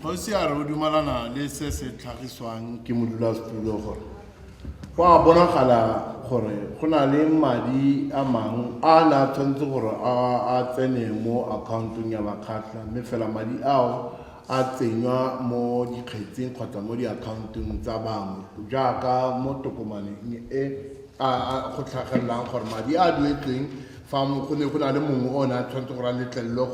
Kgosi a re o dumalana le se se tlhagiswang ke modulasetulo gore go a bonagala gore go na le madi a mangwe a ne a tshwanetse gore a tsene mo akhaontong ya bakgatlha mme fela madi ao a tsenywa mo dikgetsing kgotsa mo diakhaontong tsa bangwe jaaka mo tokomaneng e go tlhagelelang gore madi a duetsweng Fa go ne go na le mongwe o ne a tshwanetse gore a letlelelwe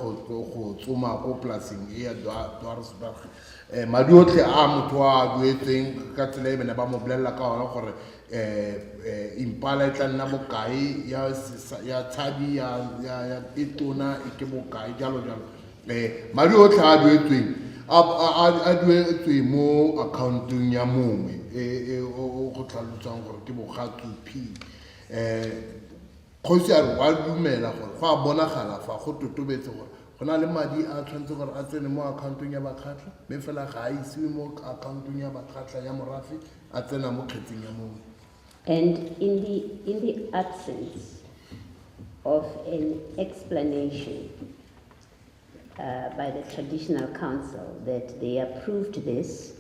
go tsoma ko polaseng e ya Dwarsberg. Um madi otlhe a motho a a duetsweng ka tsela e bene ba mo bolelela ka ona gore um impala e tla nna bokae ya tshadi ya e tona e ke bokae jalo jalo um madi otlhe a a duetsweng a duetswe mo accountong ya mongwe e, e, o go tlhalosang gore ke bogatsu p um kgosi a re wa dumela gore go a bonagala fa go totobetse gore go na le madi a tshwanetse gore a tsene mo akhaontong ya bakgatlha mme fela ga a isiwe mo akhaontong ya bakgatlha ya morafe a tsena mo kgetseng ya mongwe And in the, in the absence of an explanation uh, by the traditional council that they approved this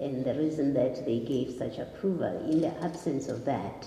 and the reason that they gave such approval, in the absence of that,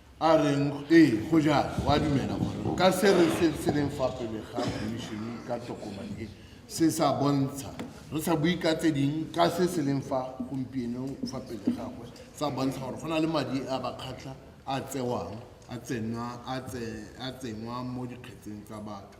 a reng ee go jalo wa dumela gore ka se re se se leng fa pele ga khomišene ka tokomane e se sa bontsha re sa bue ka tse ding ka se se leng fa gompieno fa pele gagwe sa bontsha gore go na le madi a bakgatlha a tsewang a tsenwa mo dikgetseng tsa batho